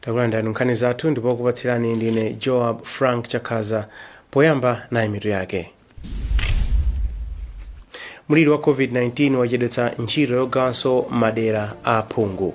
takulandirani nkhani zathu ndipo okupatsirani ndine joab frank chakhaza poyamba nayi mitu yake mliri wa covid-19 wachedwetsa ntchito yogawanso madera a aphungu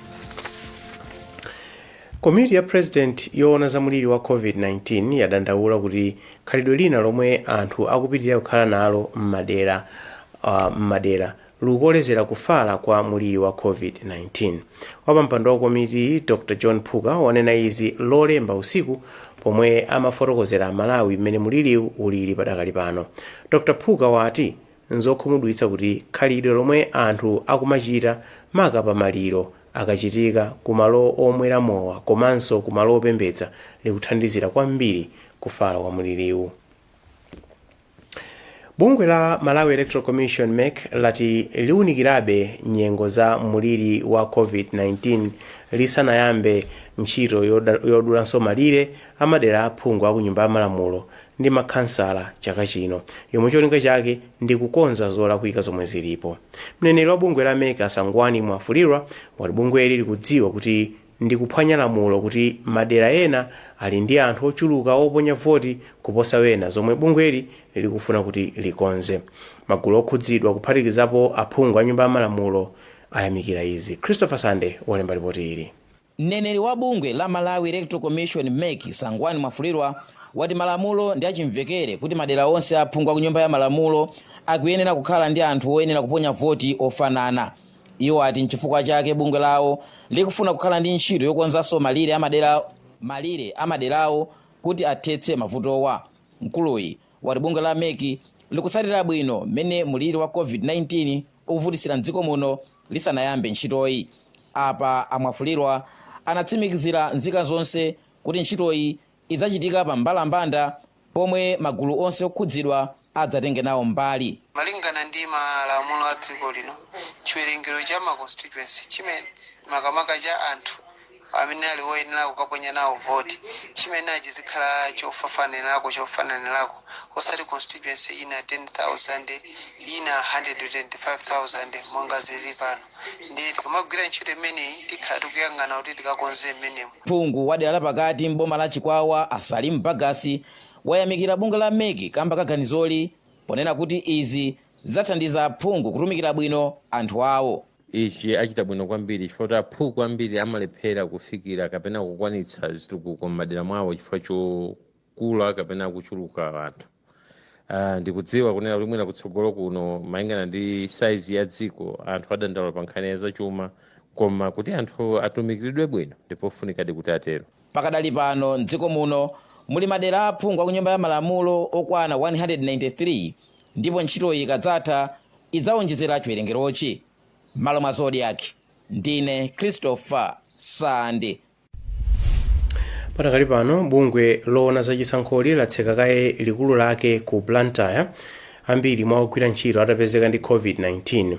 komiti ya president yoona za mulili wa covid-19 yadandaula kuti khalidwe lina lomwe anthu akupitirira kukhala nalo m'madera likukolezera kufala kwa mulili wa covid-19 wapampando wa komiti dr john phuka wanena izi lolemba usiku pomwe amafotokozera amalawi mmene muliliwu ulili padakali pano dr phuka wati Nzokhumudwitsa kuti khalidwe lomwe anthu akumachita maka pa maliro akachitika ku malo omwera mowa komanso ku malo opembedza likuthandizira kwambiri kufala kwa mliriwu. Bungwe la Malawi Electoral Commission, mec, lati liunikirabe nyengo za mliri wa Covid-19 lisanayambe ntchito yodulanso malire amadera a aphungu a ku Nyumba ya Malamulo ndi makhansala chaka chino, yomwe cholinga chake ndi kukonza zolakwika zomwe zilipo. Mneneri wa bungwe la mec a Sangwani Mwafulirwa wati bungweli likudziwa kuti ndi kuphwanya lamulo kuti madera ena ali ndi anthu ochuluka oponya voti kuposa ena zomwe bungweli likufuna kuti likonze. Magulu okhudzidwa kuphatikizapo aphungu a Nyumba ya Malamulo ayamikira izi. Christopher Sande walemba lipoti ili. Mneneri wa bungwe la Malawi Electoral Commission, mec, Sangwani Mwafulirwa wati malamulo ndi achimvekere kuti madera onse a aphungu a ku Nyumba ya Malamulo akuyenera kukhala ndi anthu oyenera kuponya voti ofanana. Iwo ati n'chifukwa chake bungwe lawo likufuna kukhala ndi ntchito yokonzanso malire a maderawo kuti athetse mavutowa. Mkuluyi wati bungwe la mec likutsatira bwino mmene mliri wa COVID-19 ukuvutitsira m'dziko muno lisanayambe ntchitoyi. Apa a Mwafulirwa anatsimikizira nzika zonse kuti ntchitoyi idzachitika pa mbalambanda pomwe magulu onse okhudzidwa adzatenge nawo mbali. Malingana ndi malamulo a dziko lino, chiwerengero cha ma constituency chimene makamaka cha anthu amene ali woyenera kukaponya nawo voti chimenechi chizikhala chofafanirako chofananirako osati constituency ina 10000 ina 125000 monga zili pano ndiye tikamagwira ntchito imeneyi tikhala tikuyang'ana kuti tikakonze mmenemo phungu wa dera lapakati m'boma la chikwawa a salim bagus wayamikira bungwe la mec kamba ka ganizoli ponena kuti izi zidzathandiza aphungu kutumikira bwino anthu awo ichi achita bwino kwambiri chifukwa kuti aphungu ambiri amalephera kufikira kapena kukwanitsa zitukuko m'madera mwawo chifukwa chokula kapena kuchuluka anthu uh, ndikudziwa kunena kuti mwina kutsogolo kuno malingana ndi saizi ya dziko anthu adandaula pa nkhani ya zachuma koma kuti anthu atumikiridwe bwino ndipofunikadi kuti atero pakadali pano mdziko muno muli madera aphungu a ku nyumba ya malamulo okwana 193 ndipo ntchitoyi ikadzatha idzawonjezera chiwerengerochi. M'malo mwa Zodiak, ndine Christopher Sande. pakadali pano bungwe loona za chisankholi latseka kaye likulu lake ku blantyre ambiri mwa ogwira ntchito atapezeka ndi covid-19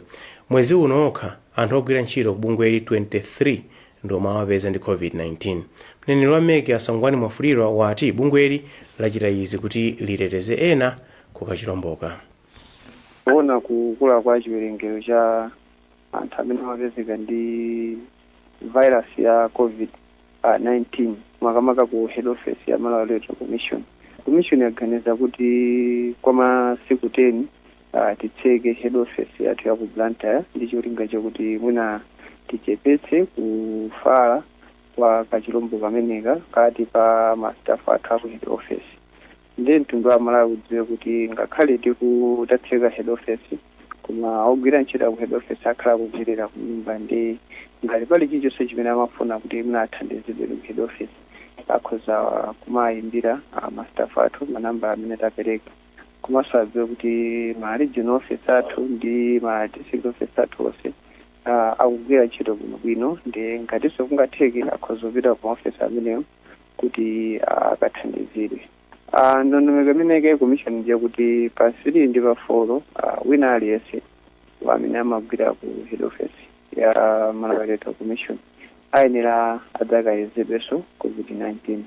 mwezi uno okha anthu ogwira ntchito ku bungweli 23 ndiomwe awapeza ndi covid-19 mneneri wa mec a sangwani mwafulirwa wati bungweli lachita izi kuti liteteze ena ku kachilomboka. Kuona kukula kwa chiwerengero cha anthu amene amapezeka ndi vairasi ya COVID-19, makamaka ku head ofesi ya Malawi Electoral Commission, komishoni yaganiza kuti kwa masiku 10 titseke head ofesi yathu ya ku Blantyre ndi cholinga chakuti mwina tichepetse kufala kwa kachilombo kameneka pakati pa ma staff athu a ku head ofesi. Ndiye mtundu wa Malawi udziwe kuti ngakhale tiku tatseka head office koma ogwira ntchito aku head office akhala akugwilira kunyumba nde ngati pali chilichonse chimene amafuna kuti mwina athandizidwe ku head office akhoza kumayimbira ma staff athu ma number amene tapeleka komanso adziwe kuti ma regional office athu ndi ma district office athu onse akugwira ntchito bwinobwino nde ngatinso kungatheke akhoza kupita ku ma office amenewo kuti akathandizidwe. Ndondomeko imene yaika komishoni ndi yakuti pa 3 ndi pa 4 wina aliyense amene amagwira ku head office ya Malawi Electoral Commission ayenera adzakayezedwenso COVID-19.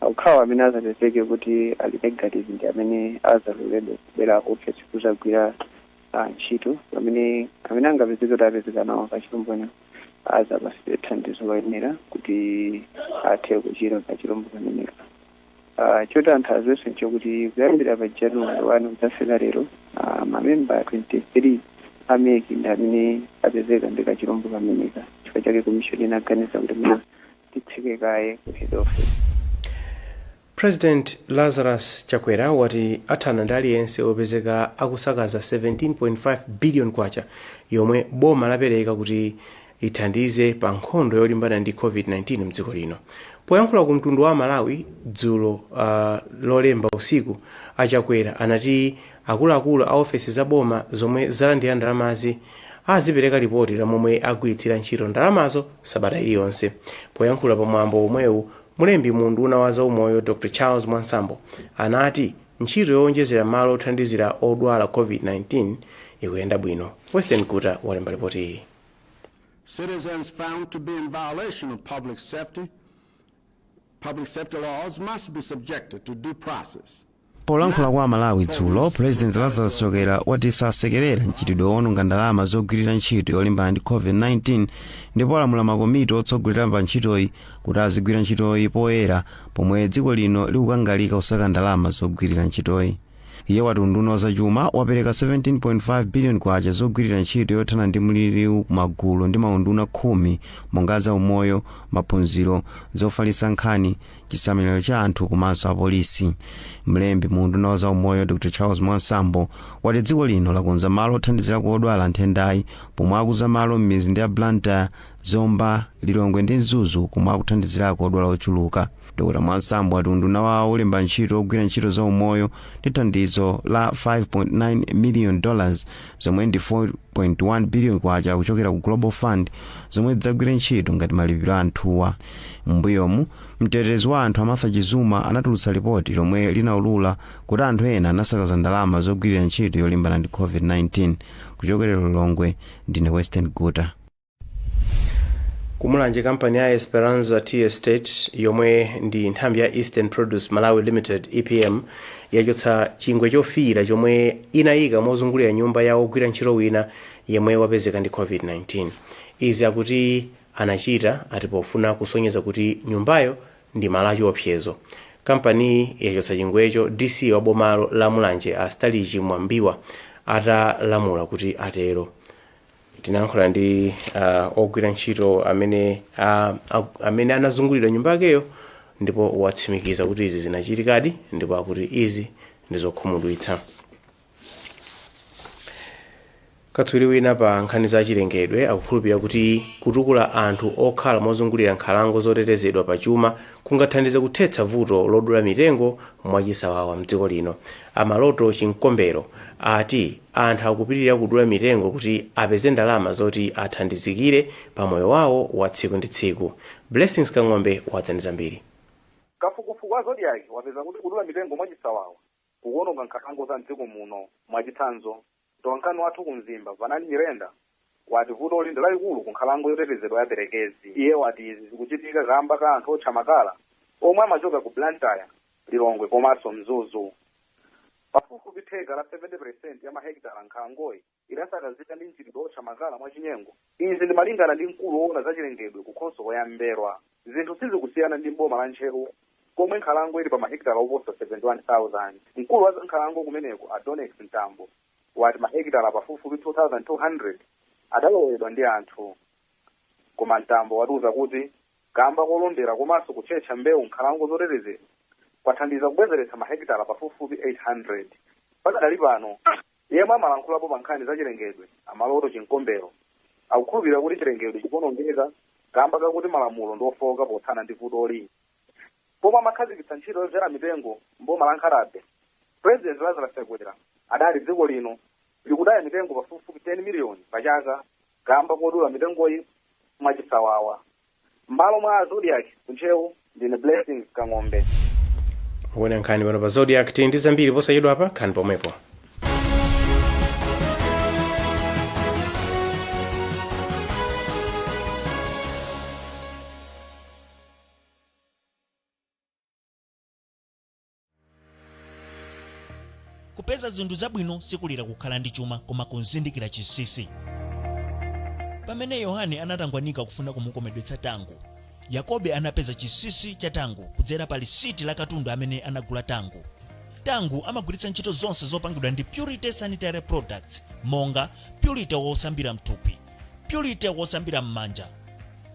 Okhawo amene adzapezeke kuti ali negative ndi amene adzaloledwe kubwera ku ofesi kudzagwira ntchito pamene amene angapezeke kuti apezeka nawo kachilombo kameneka. adzapatsidwe thandizo loyenera kuti athe kuchira kachilombo kameneka Ah, choti anthu aziwenso nchokuti kuyambira pa januwale 1 kudzafika lero ah, mamemba 23 a mec ndi amene apezeka ndi kachilombo kameneka chifukwa chake komishoni inaganiza kuti mwina titseke kaye ku head office President Lazarus Chakwera wati athana ndi aliyense opezeka akusakaza K17.5 billion yomwe boma lapereka kuti ithandize pa nkhondo yolimbana ndi Covid-19 mdziko lino. Poyankhula ku mtundu wa aMalawi dzulo uh, lolemba usiku, a Chakwera anati akuluakulu a ofesi za boma zomwe zalandira ndalamazi azipereka lipoti la momwe agwiritsira ntchito ndalamazo sabata iliyonse. Poyankhula pa mwambo omwewu, Mlembi mu unduna wa zaumoyo Dr Charles Mwansambo anati ntchito yowonjezera malo othandizira odwala Covid-19 ikuyenda bwino. Western Guta walemba lipotili. Citizens found to be in violation of public safety public safety laws must be subjected to due process. Polankhula kwa Amalawi dzulo, Pulezidenti Lazarus Chakwera wati sasekerera mchitidwe woononga ndalama zogwirira ntchito yolimbana ndi COVID-19 ndipo walamula makomiti otsogolera pa ntchitoyi kuti azigwira ntchitoyi poyera pomwe dziko lino likukangalika kusaka ndalama zogwirira ntchitoyi. Iye wati unduna wa zachuma wapereka 17.5 biliyoni kwacha zogwirira ntchito yothana ndi mliriwu ku magulu ndi maunduna khumi monga a zaumoyo, maphunziro, zofalitsa nkhani, chisamaliro cha anthu komanso apolisi mlembi mu unduna wa za umoyo dr charles mwansambo wati dziko lino lakonza malo othandizirako odwala nthendayi pomwe akuza malo m'mizinda ya blantyre zomba lilongwe ndi mzuzu komwe akuthandizirako odwala ochuluka dr mwansambo wati unduna wawo ulemba ntchito ogwira ntchito za umoyo ndi thandizo la 5.9 million dollars zomwe ndi 4 .1 billion kwacha kuchokera ku Global Fund zomwe zidzagwire ntchito ngati malipiro a anthuwa. M'mbuyomu, mtetezi wa anthu a Martha Chizuma anatulutsa lipoti lomwe linaulula kuti anthu ena anasakaza ndalama zogwirira ntchito yolimbana ndi Covid-19. Kuchokera Lilongwe, ndine Western Guta. kumulanje kampani ya esperanza tea estate yomwe ndi nthambi ya eastern produce malawi limited epm yachotsa chingwe chofiira chomwe inayika mozungulira nyumba ya ogwira ntchito wina yemwe wapezeka ndi covid-19 izi akuti anachita ati pofuna kusonyeza kuti nyumbayo ndi malo achiopsezo kampaniyi yachotsa chingwecho dc wa bomalo la mulanje a stalichi mwambiwa atalamula kuti atero tinayankhula ndi uh, ogwira ntchito amene uh, amene anazungulidwa nyumba yakeyo ndipo watsimikiza kuti izi zinachitikadi ndipo akuti izi ndi zokhumudwitsa katswiri wina pa nkhani za chilengedwe akukhulupirira kuti kutukula anthu okhala mozungulira nkhalango zotetezedwa pa chuma kungathandize kuthetsa vuto lodula mitengo mwachisawawa mdziko lino amaloto chinkombero ati Anthu akupitirira kudula mitengo kuti apeze ndalama zoti athandizikire pa moyo wawo wa tsiku ndi tsiku. Blessings Kang'ombe wadza ndi zambiri. Kafukufuku wa Zodiak wapeza kuti kudula mitengo mwachisawawa kukuononga nkhalango za m'dziko muno. Mwachitsanzo, mtolankhani wathu ku Mzimba, Vanani Nyirenda, wati vutoli ndi lalikulu ku nkhalango yotetezedwa ya Perekezi. Iye wati izi zikuchitika kaamba ka anthu otcha makala omwe amachoka ku Blantyre, Lilongwe komanso Mzuzu. Pafupifupi theka la 70 peresenti ya mahekitala a nkhalangoyi idasakazika ndi mchitidwe wotcha makala mwachinyengo. Izi ndi malingana ndi mkulu woona za chilengedwe ku khonsolo ya M'mbelwa. Zinthu sizikusiyana ndi m'boma la Ntcheu komwe nkhalango ili pa mahekitala oposa 71,000. Mkulu wa za nkhalango kumeneko a Donnex Mtambo wati mahekitala pafupifupi 2,200 adalowedwa ndi anthu. Koma Mtambo watiuza kuti kamba kolondera komanso kutchetcha mbewu m'nkhalango zotetezedwa kwathandiza kubwezeretsa mahekitala pafupifupi 800. Pakadali pano, yemwe amalankhulapo pa nkhani za chilengedwe a Maloto Chimkombero akukhulupirira kuti chilengedwe chikuonongeka kamba kakuti malamulo ndi ofooka pothana ndi vutoli. Pomwe amakhazikitsa ntchito yodzala mitengo m'boma la Nkhatabay, President Lazarus Chakwera adati dziko lino likutaya mitengo pafupifupi 10 miliyoni pa chaka kaamba kodula mitengoyi mwachisawawa. M'malo mwa Zodiac ku Ntcheu, ndine Blessings Kang'ombe. mukuona nkhani pano pa zodiac tili ndi zambiri posachedwapa khalani pomwepo kupeza zinthu zabwino sikulira kukhala ndi chuma koma kuzindikira chinsinsi pamene yohane anatangwanika kufuna kumukomedwetsa Tangu yakobe anapeza chinsinsi cha Tangu kudzera pa lisiti la katundu amene anagula Tangu Tangu amagwiritsa ntchito zonse zopangidwa ndi purity sanitary products monga purity wosambira mthupi purity wosambira m'manja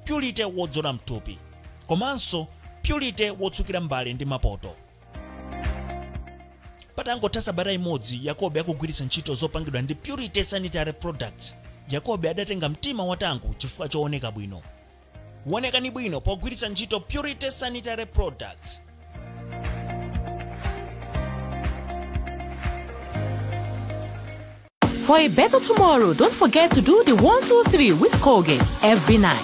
purity wodzola mthupi komanso purity wotsukira mbale ndi mapoto patangotha sabata imodzi yakobe akugwiritsa ntchito zopangidwa ndi purity sanitary products yakobe adatenga mtima wa Tangu chifukwa chooneka bwino wonekani bwino pogwiritsa ntchito purity sanitary products For a better tomorrow, don't forget to do the 123 with Colgate every night.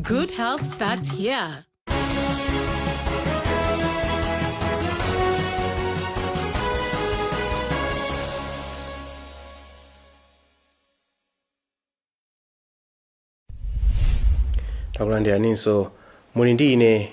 Good health starts here. takulandiraninso muli ndi ine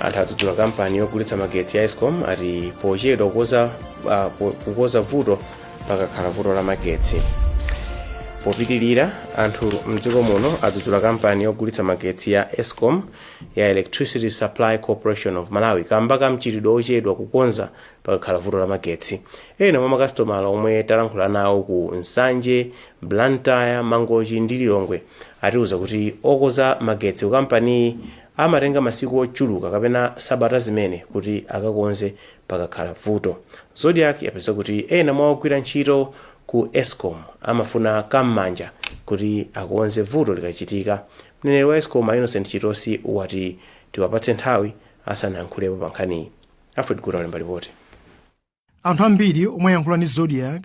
anthu adzudzula kampani yogulitsa magetsi ya escom ati pochedwa kukonza vuto pakakhala vuto la magetsi popitilira anthu mdziko muno adzudzula kampani yogulitsa magetsi ya escom ya electricity supply corporation of malawi kamba ka mchitidwe ochedwa kukonza pakakhala vuto la magetsi ena mwa makasitomala omwe talankhula nawo ku nsanje blantyre mangochi ndi lilongwe atiuza kuti okonza magetsi ku kampaniyi Amatenga masiku ochuluka kapena sabata zimene kuti akakonze pakakhala vuto. Zodiak yapeza kuti ena mwa ogwira ntchito ku escom amafuna ka m'manja kuti akonze vuto likachitika. Mneneri wa escom a Innocent Chitosi wati tiwapatse nthawi asanayankhulepo pa nkhaniyi. Alfred Guta walemba lipoti. Anthu ambiri omwe ayankhula ndi Zodiak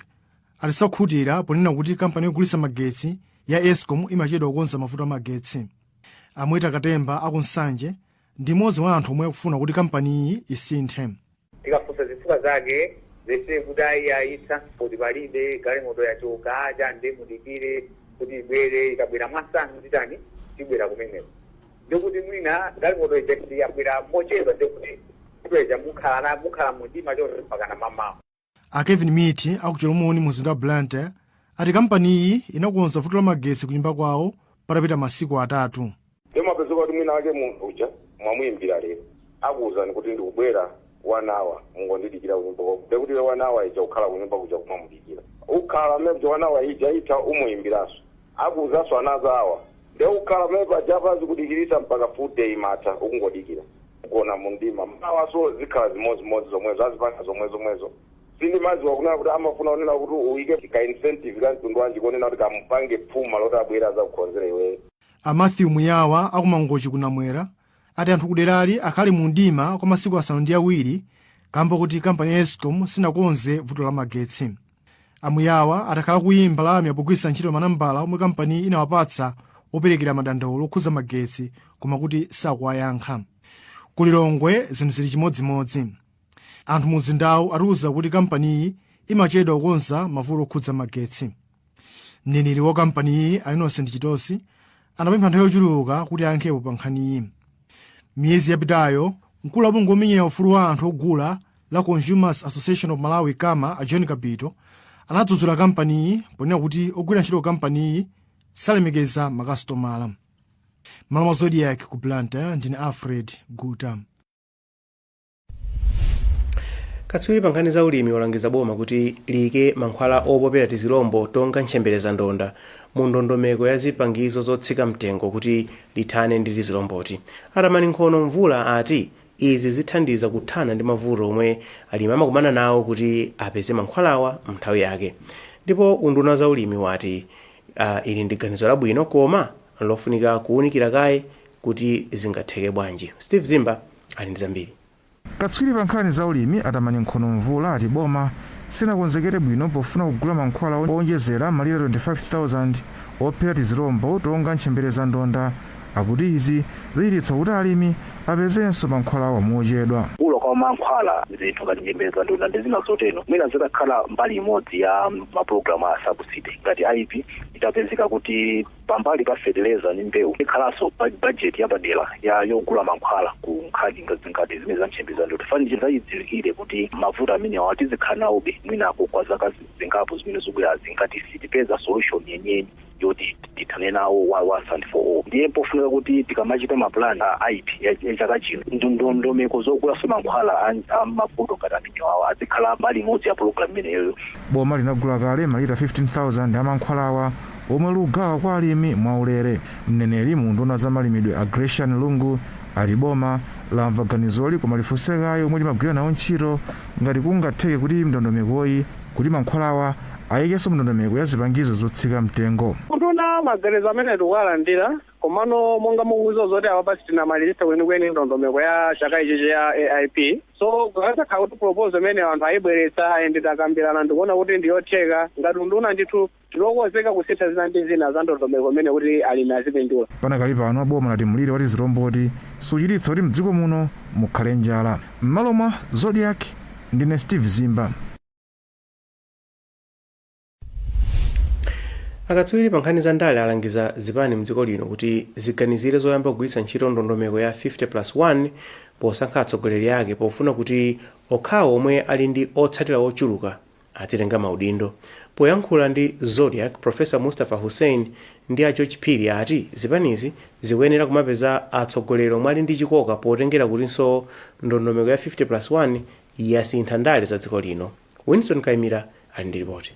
ati sakhutira ponena kuti kampani yogulitsa magetsi ya escom imachedwa kukonza mavuto a magetsi a mweta katemba aku nsanje ndi mmodzi wa anthu omwe akufuna kuti kampaniyi isinthe tikafunsa zifukwa zake zese kuti ayi ayi transport palibe galimoto yachoka acha nde mudikire kuti ibwere ikabwera mwamsanga titani tibwera kumeneko ndiye kuti mwina galimoto ija ndiyabwera mochedwa ndiye kuti ntchito ija mukhala na- mukhala mumdima chonse mpakana mamawa a kevin miti aku chilomoni mu mzinda wa blantyre ati kampaniyi inakonza vuto la magetsi ku nyumba kwawo patapita masiku atatu nde mapezeka kuti mwina wake munthu uja mwamuyimbira lero akuwuzani kuti ndikubwera one hour mungondidikira kunyumba kwako ndiye kuti iwe one hour ija ukhala kunyumba kuja kumamudikira ukhala mmene one hour ija itha umuyimbiranso Akuuzanso another hour nde ukhala pamene paja pa azikudikilisa mpaka full day imatha ukungodikila ugona mumdima mawanso zikhala zimozimozi zomwezo azipanga zomwezomwezo so ndimaziwa kunena kuti amafuna kunena kuti uike ka incentive ka mtundu wanji konena kuti kamupange phuma loti abwere azakukhonzere iweyo. A Matthew Muyawa a ku Mangochi ku Namwera ati anthu kuderali akhala mu mdima kwa masiku asanu ndi awiri kamba kuti kampani ya Escom sinakonze vuto la magetsi. A Muyawa ati akhala akuimba lamya pogwiritsa ntchito manambala omwe kampaniyi inawapatsa operekera madandaulo okhudza magetsi koma kuti sakuwayankha. Ku Lilongwe zinthu zili chimodzimodzi. Anthu mumzindawu atiuza kuti kampaniyi imachedwa kukonza mavuto okhudza magetsi. Mneneri wa kampaniyi a Innocent Chitosi anapempha nthawi yochuluka kuti ayankhepo pa nkhaniyi. Miyezi yapitayo, mkulu wa bungwe lomenyera ufulu wa anthu ogula la Consumers Association of Malawi, Cama, a John Kapito anadzudzula kampaniyi ponena kuti ogwira ntchito ku kampaniyi salemekeza makasitomala. M'malo mwa Zodiak ku Blantyre ndine Alfred Guta. katswiri pa nkhani za ulimi walangiza boma kuti liyike mankhwala opopera tizilombo tonga ntchemberezandonda mu ndondomeko ya zipangizo zotsika mtengo kuti lithane ndi tizilomboti. A Tamani Nkhono-Mvula ati Izi zithandiza kuthana ndi mavuto omwe alimi amakumana nawo kuti apeze mankhwalawa m'nthawi yake. Ndipo unduna wa zaulimi wati ili ndi ganizo labwino koma nlofunika kuunikira kaye kuti zingatheke bwanji. Steve Zimba ali ndi zambiri. Katswiri pa nkhani zaulimi a Tamani Nkhono-Mvula ati boma silinakonzekere bwino pofuna kugula mankhwala oonjezera malita 25,000 ophera tizilombo tonga ntchemberezandonda. akuti izi zichititsa kuti alimi apezenso mankhwalawa mochedwa. Kugula kwa mankhwala, zinthu ngati ntchemberezandonda ndi zina zotero mwina zitakhala mbali imodzi ya mapulogalamu a subsidy ngati AIP itapezeka kuti pambali pa fetereza ndi mbewu ikhalanso bajeti yapadera ya yogula mankhwala ku nkhani ngati zimene za ntchemberezandonda, chifukwa ndi zachidziwikire kuti mavuto amenewa tizikhala nawobe mwinako kwa zaka zingapo zimene zikubwerazi ngati sitipeza solution yeniyeni. yoti tithane nawo once and for all ndiye pofunika kuti tikamachita mapulani a AIP ya ya chaka chino ndondomeko zogulaso mankhwala a- a mavuto ngati amenewawa azikhala mbali imodzi ya pulogalamu imeneyoyo boma linagula kale malita 15000 amankhwalawa omwe likugawa kwa alimi mwaulere mneneri mu unduna wa za malimidwe a Gracian Lungu ati boma lamva ganizoli koma lifunse kaye omwe limagwira nawo ntchito ngati kungatheke kuti ndondomekoyi kuti mankhwalawa ayikidwenso mndondomeko ya zipangizo zotsika mtengo. Ngati unduna maganizo amenewo tikuwalandira komano monga mukuziwa zoti apapa sitinamaliritse kwenikweni ndondomeko ya chaka ichichi ya AIP so zikadzakhala kuti proposal imeneyo anthu ayibweretsa and takambirana ndikuona kuti ndiyotheka ngati unduna ndithu Tili okonzeka kusintha zina ndi zina za ndondomeko imeneyi kuti alimi azipindula. Panakali pano boma lati mliri wa tizilomboti suchititsa kuti mdziko muno mukhale njala. M'malo mwa Zodiak, ndine Steve Zimba. Akatswiri pa nkhani za ndale alangiza zipani mdziko lino kuti ziganizire zoyamba kugwiritsa ntchito ndondomeko ya 50+1 posankha atsogoleri ake pofuna kuti okhawo omwe ali ndi otsatira ochuluka azitenga maudindo. Poyankhula ndi Zodiak, Professor Mustapha Hussein ndi a George Phiri ati zipanizi zikuyenera kumapeza atsogoleri omwe ali ndi chikoka potengera kutinso ndondomeko ya 50 plus 1 yasintha ndale za dziko lino. Winston Kaimira ali ndi lipoti.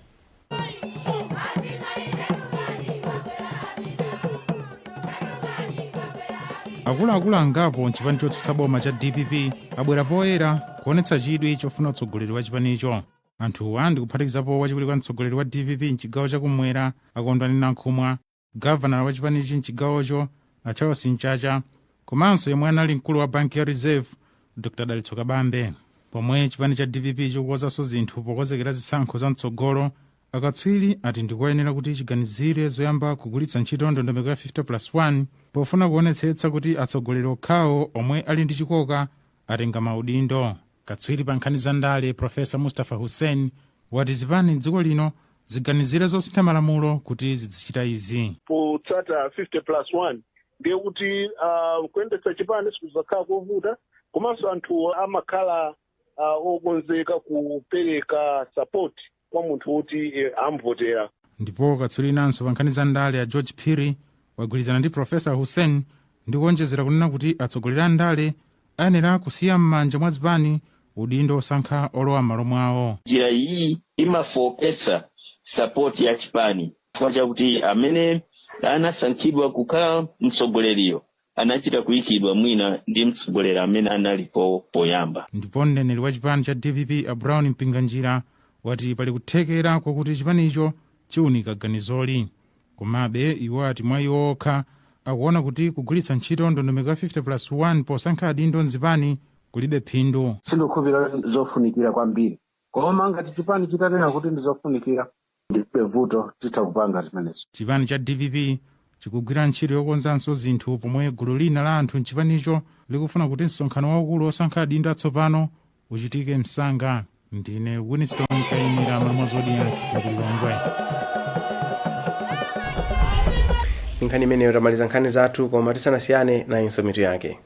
Akuluakulu angapo m'chipani chotsutsa boma cha DPP abwera poyera Kuonetsa chidwi chofuna utsogoleri wa chipanicho. Anthuwa ndi kuphatikizapo wachiwiri kwa mtsogoleri wa dpp m'chigawo cha kummwera a Kondwani Nankhumwa, gavanala wa chipanichi m'chigawocho a Charles Mchacha komanso yemwe anali mkulu wa banki ya Reserve Dr Dalitso Kabambe. Pomwe chipani cha dpp chikukonzanso zinthu pokonzekera zisankho za mtsogolo, akatswiri ati ndi koyenera kuti chiganizire zoyamba kugwiritsa ntchito ndondomeko ya 50 plus 1 pofuna kuonetsetsa kuti atsogoleri okhawo omwe ali ndi chikoka atenga maudindo katswiri pa nkhani za ndale profesa mustapha hussein wati zipani m'dziko lino ziganizire zosintha malamulo kuti zidzichita izi potsata 50 plus 1 ndiye kuti uh, kuyendetsa chipani sikuzakhala kovuta komanso anthu amakhala uh, okonzeka kupereka sapoti kwa munthu woti eh, amvotera ndipo katswiri winanso pa nkhani za ndale a george phiri wagwirizana ndi profesa hussein ndi kuonjezera kunena kuti atsogoleri a ndale ayenera kusiya m'manja mwa zipani udindo osankha olowa m'malo mwawo njira iyi imafooketsa sapoti ya chipani chifukwa chakuti amene anasankhidwa kukhala mtsogoleriyo anachita kuikidwa mwina ndi mtsogoleri amene analipo poyamba. Ndipo mneneri wa chipani cha dpp a Brown Mpinganjira wati pali kuthekera kwakuti chipanicho chiunika ganizoli. Komabe iwo ati mwa iwo okha akuona kuti kugwiritsa ntchito ndondomeko ya 50 plus 1 posankha adindo m'zipani kulibe phindu. Sindikukhulupirira zofunikira kwambiri, koma ngati chipani chitanena kuti ndizofunikira, ndilibe vuto titha kupanga zimenezo. Chipani cha dpp chikugwira ntchito yokonzanso zinthu pomwe gulu lina la anthu m'chipanicho likufuna kuti msonkhano waukulu wosankha adindo atsopano uchitike msanga. Ndine Winston Kaimira Malamulo Zodiak ku Lilongwe. ndi nkhani imeneyo tamaliza nkhani zathu koma tisanasiyane nayinso mitu yake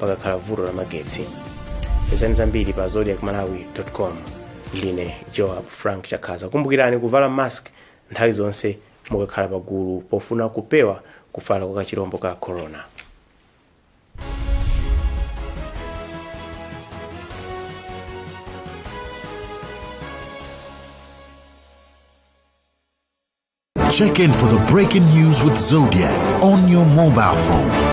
pakakhala vuto la magetsi pezani zambiri pa zodiak malawi com ndine joab frank chakhaza kumbukirani kuvala mask nthawi zonse mukakhala pagulu pofuna kupewa kufala kwa kachirombo ka corona Check in for the breaking news with Zodiak on your mobile phone.